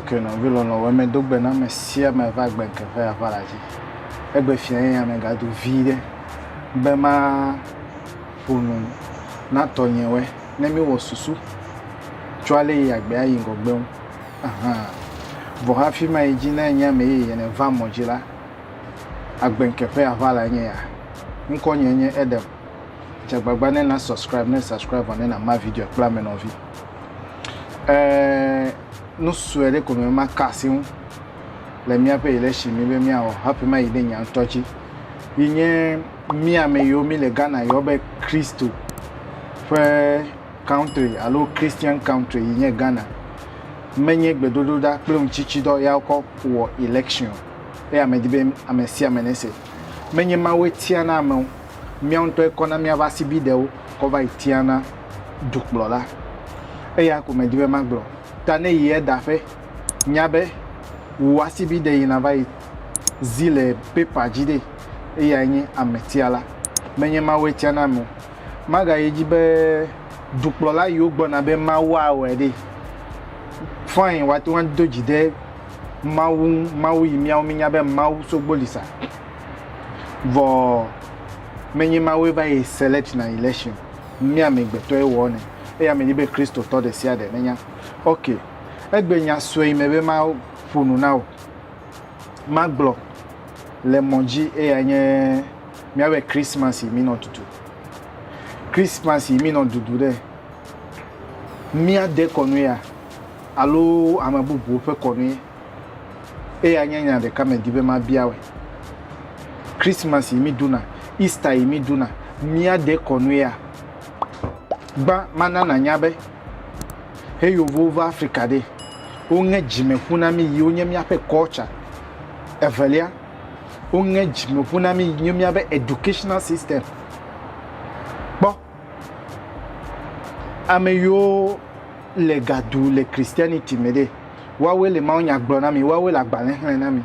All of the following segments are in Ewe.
ke nɔvi lɔlɔ̃wo medo gbe na ame sia ame va gbe ke ƒe aʋa la dzi egbe fia ye ame gado vi ɖe be ma ƒonu na tɔnyewɔe ne mi wɔ susu tso ale yi agbe ayi ŋgɔgbe ŋu vɔ hafi ma yi dzi ne enye ame yeye ne va mɔ dzi la Agbeŋkeƒe aʋalae nye ya. Ŋkɔnye nye Edem. Dze agbagba ne na subscribe ne subscribe vɔ ne na ma video kple ame nɔvi. Ɛɛ nu sue ɖe ko me ma ka asi ŋu le míaƒe election mi be míawɔ hafi ma yi ɖe nye ŋutɔ dzi. Yi nye mí ame yiwo mi le Ghana yɔ be Kristo ƒe country alo Christian country yi nye Ghana. Menye gbedodoɖa kple ŋutsitsidɔ ya wokɔ wɔ election. Eya medi be ame sia ame nese. Menye Mawue tiana ame o, míawo ŋutɔe kɔna míaƒe asibidɛwo kɔ va yi tiana dukplɔla. Eya ko medi be magblɔ. Ta ne yi edaƒe, nya be wò asibidɛ yina va yi zi le paper dzi ɖe, eyae nye ametiala. Menye Mawue tiana ame o. Magayi edzi be dukplɔla yiwo gblɔna be Mawu awɔe ɖe, fine, woate ŋu ado dzi ɖe Mawu ŋu, Mawu yi míawo mínya be Mawu sogbo li sa. Vɔ menye Mawue va yi select na election, mía amegbetɔe wɔ nɛ. Eya medi be Kristotɔ ɖe sia ɖe nenya. Ok, egbe nya sue me be maƒo nu na wò, magblɔ le mɔ dzi eya nye míawɔe Christmas yi mínɔ tutu. Christmas yi mínɔ dudu ɖe, míade kɔnu ya. alo ame bubuwo ƒe kɔnue. Eya nye nya ɖeka medi be mabia wòe. Christmas yi míɖuna, Easter yi míɖuna, míade kɔnuea? Gbã, mana nànya be he Yevuwo va Afrika ɖe, woŋe dzimeƒu na mí yi wonye míaƒe culture. Evelia, woŋe dzimeƒu na mí yi nye míabe educational system. Kpɔ. Ame yiwo le ga ɖu le Christianity me ɖe, woawoe le mawunya gblɔ na mi, woawoe le agbalẽ xlẽ na mi.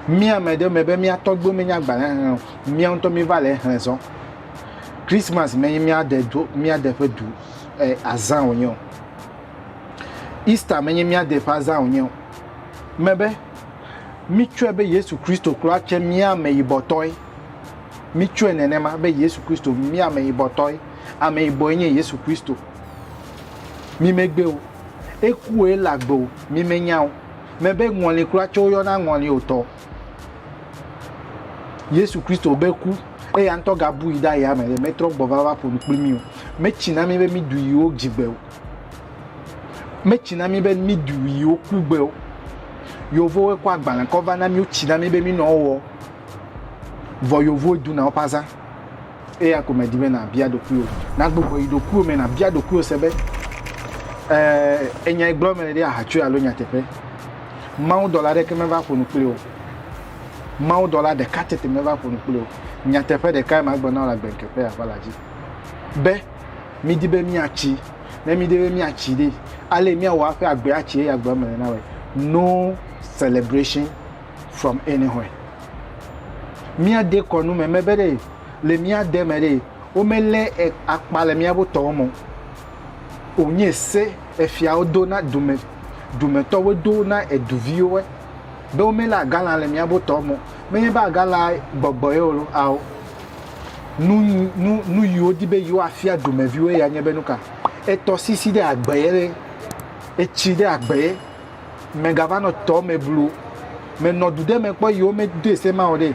Mía ame ɖe me be mía tɔgbuiwo menya agbalẽ xlẽ o, mía ŋutɔ míva le exlẽ zɔ. Christmas menye mía de do mía de ƒe du eh, azã wònye o. Easter menye mía de ƒe azã wònye o. Mebe mitsɔe be Yesu Kristo kura tse mía ameyibɔtɔe. Mitsɔe nenema be Yesu Kristo mi ameyibɔtɔe. Ameyibɔe nye Yesu Kristo. Mi megbe o. Ekue le agbe o. Mi menya o. Mebe ŋɔli kura tse woyɔna ŋɔli o tɔ. Yesu Kristo be ku eya ŋutɔ gabui ɖe aya me ɖe metrɔ gbɔ va va ƒo nu kpli mi o. Metsi na mi be mi du yiwo dzigbe o. Metsi na mi be mi du yiwo kugbe o. Yevowoe kɔ agbalẽ kɔ va na mi wotsi na mi be mi nɔ wɔ Vɔ yevuwo duna woƒe azã. Eya ko medi be nàbia ɖokuiwò. Nàgbugbɔ yi ɖokuiwò me nàbia ɖokuiwò se be ee, enyai gblɔm mele ɖe ahatsoe alo nyateƒe. Mawudɔla aɖeke meva ƒo nu kpli wò. Mawudɔla ɖeka tete meva ƒo nu kpli wò. Nyateƒe ɖekae magblɔ na wò le agbeŋke ƒe aʋala dzi. Be midi be míatsi. Ne mídi be míatsi ɖe, ale miawɔ aƒe agbe atsi eya gblɔm mele na wòe. No celebration from anywhere. Mía de kɔnu me me be ɖe le mía de me ɖe wo me le akpa le mía bo tɔwo mo. O nye se efia wo do na dume dume tɔ wo do na eduvi wo be wo me le agala le mía bo tɔwo mo. Me nye ba agala gbɔgbɔ ye wo lo ao. Nu nu nu yi wo di be yi wo afia dume vi wo ya nye be nuka. Etɔ sisi de agbe ye le etsi de agbe ye. Megava nɔ tɔ me blu. Menɔ du ɖe me kpɔ yi wo me doe se ma o ɖe.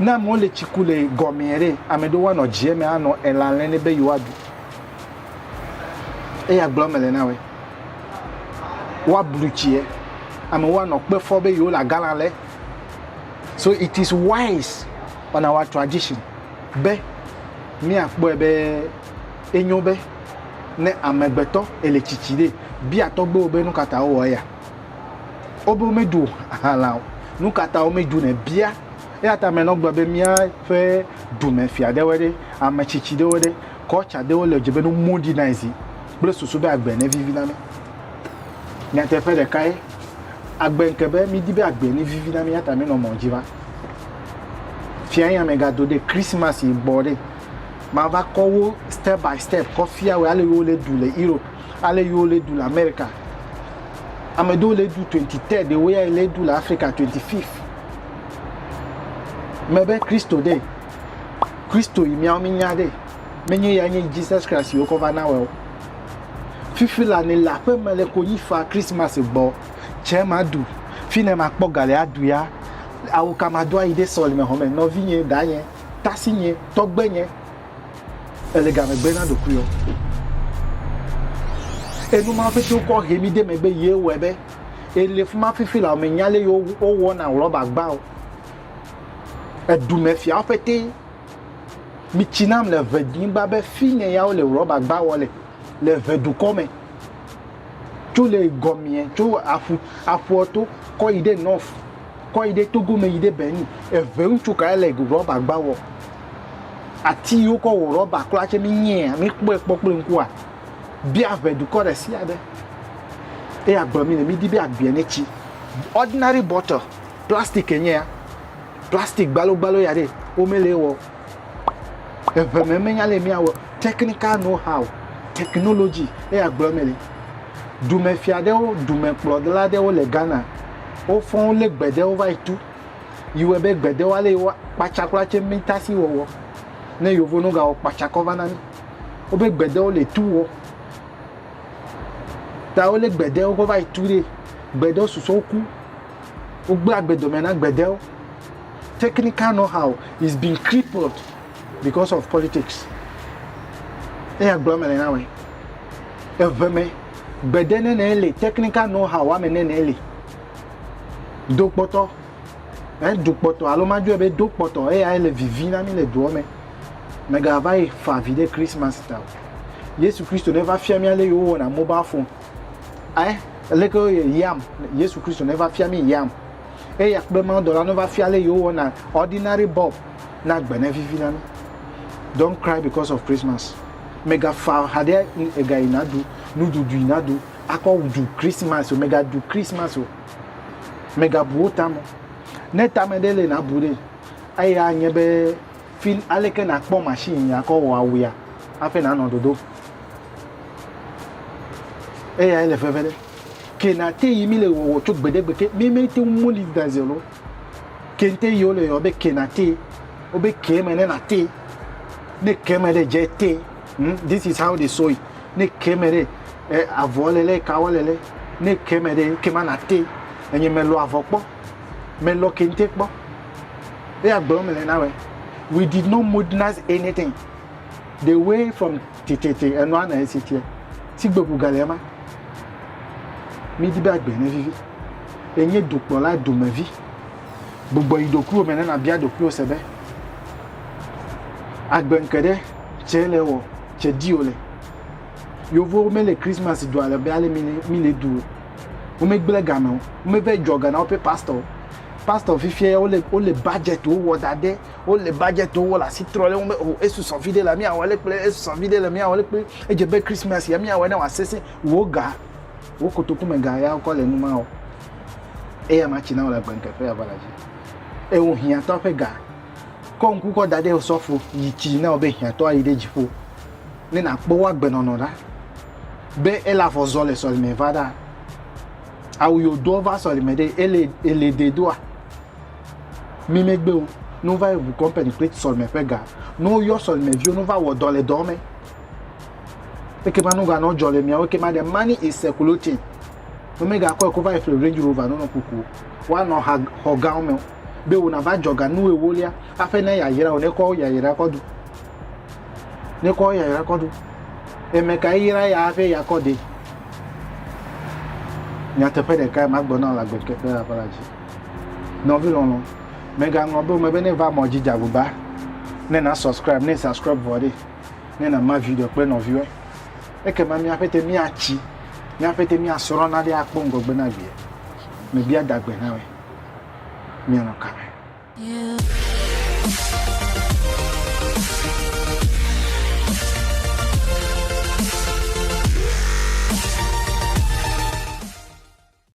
Ne amewo le tsi ku le gɔmea ɖe, ame ɖewo anɔ dzi eme anɔ elã lɛ ne be yi woa ɖu. Eya gblɔ me le na wɛ. Woa blu tsiɛ. Ame wo anɔ kpe fɔ be yi wo le agalã lɛ. So it is wise on our tradition be mía kpɔe be Enyo be ne amegbetɔ ele tsitsi ɖe, bia tɔgbewo be nukata wowɔ eya? Wobe womeɖu hala o. Nukata womeɖu nɛ? Bia. Eyata ame nɔ gblɔ be mía ƒe dume fia ɖewoe ɖe, ame tsitsi ɖewo ɖe, culture ɖewo le dze be no modernize kple susu be agbe ne vivi na mi. Nyateƒe ɖeka ye, agbe ŋke be mi di be agbe ne vivi na mi eyata mi nɔ mɔ dzi va. Fia yi ame ga do ɖe Christmas yi gbɔ ɖe. Mava kɔ wo step by step kɔ fia wòe ale yi wo le ɖu le Europe, ale yi wo le ɖu le America. Ame ɖewo le ɖu 23 ɖe wo ya yi le ɖu le Africa 25. Me be Kristo ɖe, Kristo yi miawo mi nya ɖe, menye ya nye Jesus Christ yi wokɔ va na wɔ o. Fifi la ne le aƒe me le konyi fa Christmas gbɔ, cɛ ma ɖu, fi ne ma kpɔ ga le aɖu ya, awo ka ma do ayi ɖe sɔlime hɔme nɔvi nye da nye. tasinye, tɔgbenye, èle gamegbe na ɖokuiwò. Enu ma ƒete wokɔ he mi de megbe ye wɔe be ele fi ma fifi la menya lé wowɔna rɔbagba o. Edumefiawo ƒete mitsi nam le ʋenyigba be fi ne ya wole rɔbagba wɔ le le ʋedukɔ me. Tso le gɔmea tso aƒu aƒua to kɔ yi ɖe nɔf. kɔ yi ɖe Togo me yi ɖe Benin. Eve ŋutsu kae le rɔba gba wɔ. Ati yi wokɔ wɔ rɔba kura tse mi nyea mi kpɔe kpɔ kple ŋkua. Be aʋe dukɔ ɖe sia ɖe. Eye agbe mi le mi di be agbea ne tsi. Ordinary bottle plastic enye ya. Plastic gbalo gbalo ya ɖe wo me le ewɔ. eŋeme menya lɛ míawɔ technical know how technology eye agblɔ mɛ le dumefia ɖewo dumekplɔla ɖewo le Ghana wofɔ wolé gbe ɖewo va yi tu yi wɔe be gbe ɖewo ale yi wo kpatsakla tse mitasi wɔwɔ ne yovo no gawɔ kpatsakɔ va na mi wobe gbe ɖewo le tu wɔ ta wolé gbe ɖewo kɔ va yi tu ɖee gbe ɖewo susɔ woku. Wogblẽ agbe dome na gbedewo. Technical know-how is being crippled because of politics. Eya gblɔm mele na woe. Eve me, gbede nɛnɛ li, technical know-how woame nɛnɛ li. Dokpɔtɔ, eh, dukpɔtɔ alo madjɔɛ be dokpɔtɔ eyae le vivi na mi le duɔ me. Mega va yi fa vi ɖe Christmas ta o. Yesu Kristo neva fia mi ale yi wo wɔna mobile phone. Aleke wòle yam? Yesu Kristo neva fia mí yam. Eya kple mawudɔla neva fia ale yewowɔna ordinary bulb na gbe ne vivi na mí. Don't cry because of Christmas. Mègafa ha ɖe egayi na ɖu nuɖuɖu yi na ɖu akɔ ɖu Christmas o. Mègaɖu Christmas o. Mègabu wo tame o. Ne tame ɖe le nàbu ɖee. Eya nye be fi aleke nàkpɔ machine akɔ wɔ awuya hafi nànɔ ɖoɖo. eya ele veve ɖe ke na te yi mi le wɔwɔ tso gbedegbe ke mi mi te mo li da ze lo ke te yi ole yɔ be ke na te o be ke me ne na te ne ke me de je te hmm? this is how they saw it ne ke me de eh, avɔ le le ka le le ne ke me de ke ma na te enye me lo avɔ kpɔ me lo kente kpɔ eya gblɔ me le na we we did not modernize anything the way from tititi enua na esi tiɛ si gbegu gale ema mi di be agbe ne vivi enye dukplɔla dumevi gbugbɔ yi dokuwo me ne na bia dokuwo se be agbe nke ɖe tse le wɔ tse di o le yovo me le christmas du ale be ale mi le mi le du o wo me gble game o wo me ve jɔ gana wo pe pastor pastor fifia wo le wo le budget wo wɔ da de Wole budget wo, wole asi trɔ ɖe eŋu be o oh, esusɔ viɖe la míawɔ le kple esusɔ viɖe la míawɔ le kple edze be Christmas ya míawɔ ne wòasesẽ wò ga wò kotoku me ga ya wokɔ le nu ma o. Eya ma tsi na wole agbenkekpe ya va la dzi. Ewo hiãtɔ ƒe ga kɔ ŋku kɔ da ɖe osɔfo yi tsi na wo be hiãtɔ ayi ɖe dziƒo ne nakpɔ wo agbenɔnɔ ɖa be ele afɔ zɔ le sɔlime va ɖa awu yodoɔ va sɔlime ɖe ele ele de doa. Mi megbe o, ne wova yi ŋu kɔmpani kple sɔlime ƒe ga, ne woyɔ sɔlime viwo, ne wova wɔ dɔ le dɔ me, eke ma nu ga nɔ jɔ le miawo ke ma de money is circulating. Ne mi ga kɔe ko va yi fle Range Rover nɔ nɔ kuku, wa nɔ ha xɔ gawo me, be wo na va jɔ ga nu ewo lia, aƒe ne ya yira o, ne kɔ ya yira kɔ du. Ne kɔ ya yira kɔ du. Eme ka yira ya aƒe ya kɔ de. Nyateƒe ɖeka ma gbɔ na la gbɛdke ƒe la ƒe la dzi. Nɔvi lɔlɔ, mègaŋlɔ be wome be ne va mɔ dzi dze agbagba ne na subscribe ne subscribe vɔ ɖe ne na ma video kple nɔviwɔe. Ekema míaƒe te míatsi, míaƒe te míasrɔ̃ na ɖe akpɔ ŋgɔgbe na vie. Mebia dagbe na wɛ. Mianɔ kame.